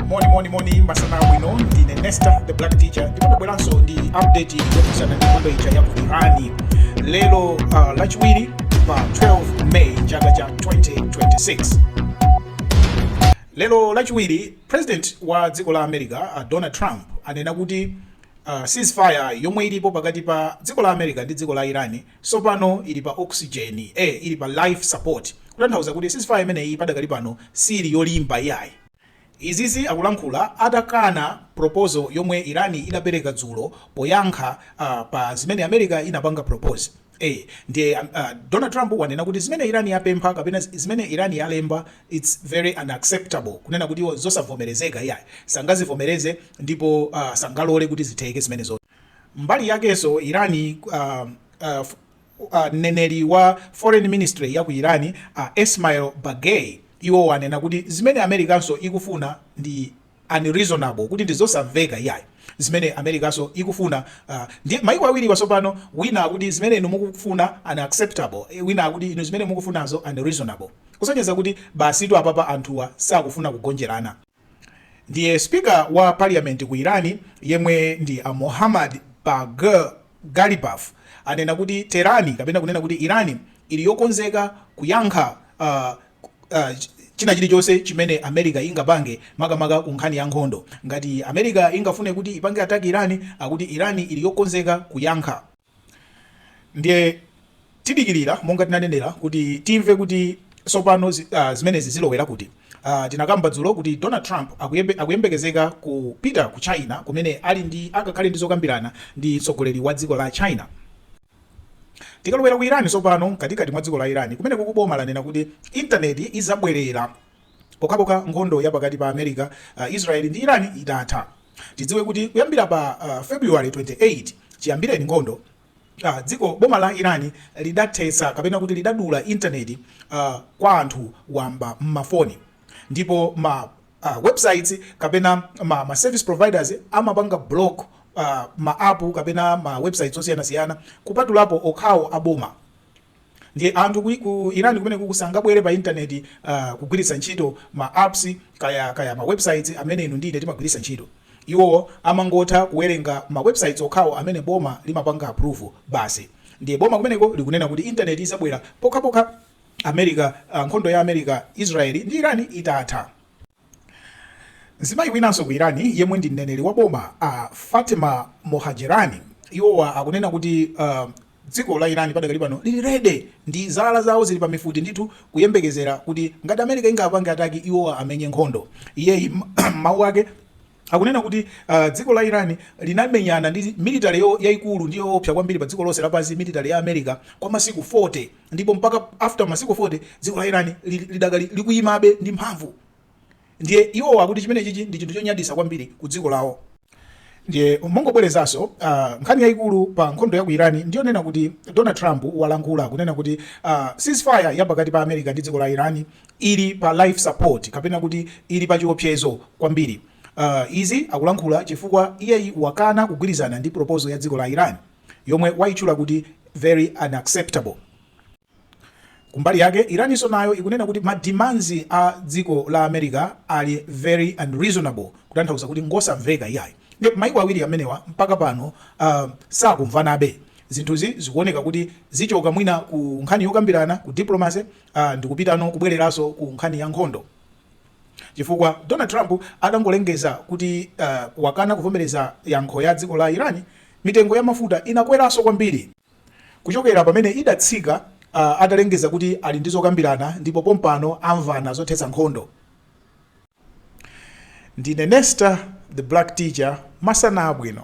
moni moni moni masana abwino ndine nesta the black teacher ndabweranso ndi update yokhudzana ndi nkhondo ija ya ku irani lero uh, lachiwiri pa 12 may chaka cha 2026 lero lachiwiri president wa dziko la america uh, donald trump anena kuti uh, ceasefire yomwe ilipo pakati pa dziko la america ndi dziko la irani Tsopano ili pa oxygen e ili pa life support kutanthauza kuti ceasefire imeneyi padakali pano siili yolimba iyayi. Izizi akulankhula atakana proposal yomwe Iran idapereka dzulo poyankha pa zimene America inapanga propose e ndiye Donald Trump wanena kuti zimene Iran yapempha kapena zimene Iran yalemba its very unacceptable kunena kuti iwo nzosavomerezeka iyayi sangazivomereze ndipo sangalole kuti zitheke zimenezozo. Mbali yakenso Iran a mneneri wa foreign ministry ya ku Iran a Esmail Baghaei iwowa anena kuti zimene Americanso ikufuna ndi unreasonable kuti ndi zosamveka iyayi zimene Americanso ikufuna a ndiye maiko awiriwa tsopano wina akuti zimene inu mukufuna unacceptable wina akuti inu zimene mukufunazo unreasonable kusonyeza kuti basitu apapa anthuwa sakufuna kugonjerana. Ndiye speaker wa parliament ku Iran yemwe ndi a Mohammad Bagher Ghalibaf anena kuti Tehran kapena kunena kuti Iran ili yokonzeka kuyankha uh, uh, china chilichonse chimene America ingapange makamaka ku nkhani ya nkhondo. Ngati America ingafune kuti ipange attack Iran, akuti Iran ili yokonzeka kuyankha. Ndiye tidikirira monga tinanenera kuti timve kuti tsopano ah, zimenezi zilowera kuti ah, tinakamba dzulo kuti Donald Trump akuyembekezeka kupita ku China kumene ali ndi akakhale ndi zokambirana ndi mtsogoleri wa dziko la China tikalowera ku Iran tsopano mkatikati mwa dziko la Iran kumeneko boma lanena kuti intaneti izabwerera pokhapokha nkhondo ya pakati pa America, Israel ndi Iran itatha. Tidziwe kuti kuyambira pa February 28 chiyambireni nkhondo, dziko, boma la Iran lidathetsa kapena kuti lidadula internet kwa anthu wamba mma foni ndipo ma websites kapena ma service providers amapanga block ma app kapena ma websites osiyanasiyana kupatulapo okhawo a boma. Ndiye anthu ku ku Iran kumeneko sangabwere pa internet uh, kugwiritsa ntchito ma apps kaya kaya ma websites amene inu ndi ine timagwiritsa ntchito. Iwo amangotha kuwerenga ma websites okhawo amene boma limapanga approve basi. Ndiye boma kumeneko likunena kuti internet izabwera pokhapokha America uh, nkhondo ya America, Israel ndi Iran itatha. Mzimayi winanso ku Iran yemwe ndi mneneri wa boma a uh, Fatemeh Mohajerani iwowa akunena kuti uh, Dziko la Iran padakali pano lili ready ndi zala zawo zili pa mifuti ndithu kuyembekezera kuti ngati America ingapange ataki iwowa amenye nkhondo. Iyeyi mmawu ake akunena kuti uh, dziko la Iran linamenyana ndi military yaikulu ndi yoopsa kwambiri pa dziko lonse lapansi military ya America kwa masiku 40 ndipo mpaka after masiku 40 dziko la Iran lidakali likuyimabe ndi mphamvu Ndiye iwowa akuti chimene chichi ndi chinthu chonyadisa kwambiri ku dziko lawo. Ndiye mongobwerezanso, uh, nkhani yayikulu pa nkhondo ya ku Iran ndi yonena kuti Donald Trump walankhula kunena kuti uh, ceasefire ya pakati pa America ndi dziko la Iran ili pa life support kapena kuti ili pa chiopsezo kwambiri. Uh, izi akulankhula chifukwa iyeyi wakana kugwirizana ndi proposal ya dziko la Iran yomwe wayitchula kuti very unacceptable. Kumbali yake, Iraninso nayo ikunena kuti ma demands a dziko la America ali very unreasonable, kutanthauza kuti ngosamveka iyayi. Nde maiko awiri amenewa mpaka pano uh, sakumvanabe. Zinthuzi zikuoneka kuti zichoka mwina ku nkhani yokambirana ku diplomacy uh, ndikupitano kubwereranso ku nkhani ya nkhondo chifukwa Donald Trump atangolengeza kuti uh, wakana kuvomereza yankho ya dziko la Iran, mitengo ya mafuta inakweranso kwambiri. Kuchokera pamene idatsika atalengeza kuti ali ndi zokambirana ndipo pompano amvana zothetsa nkhondo. Ndine Nesta the Black Teacher, masana abwino.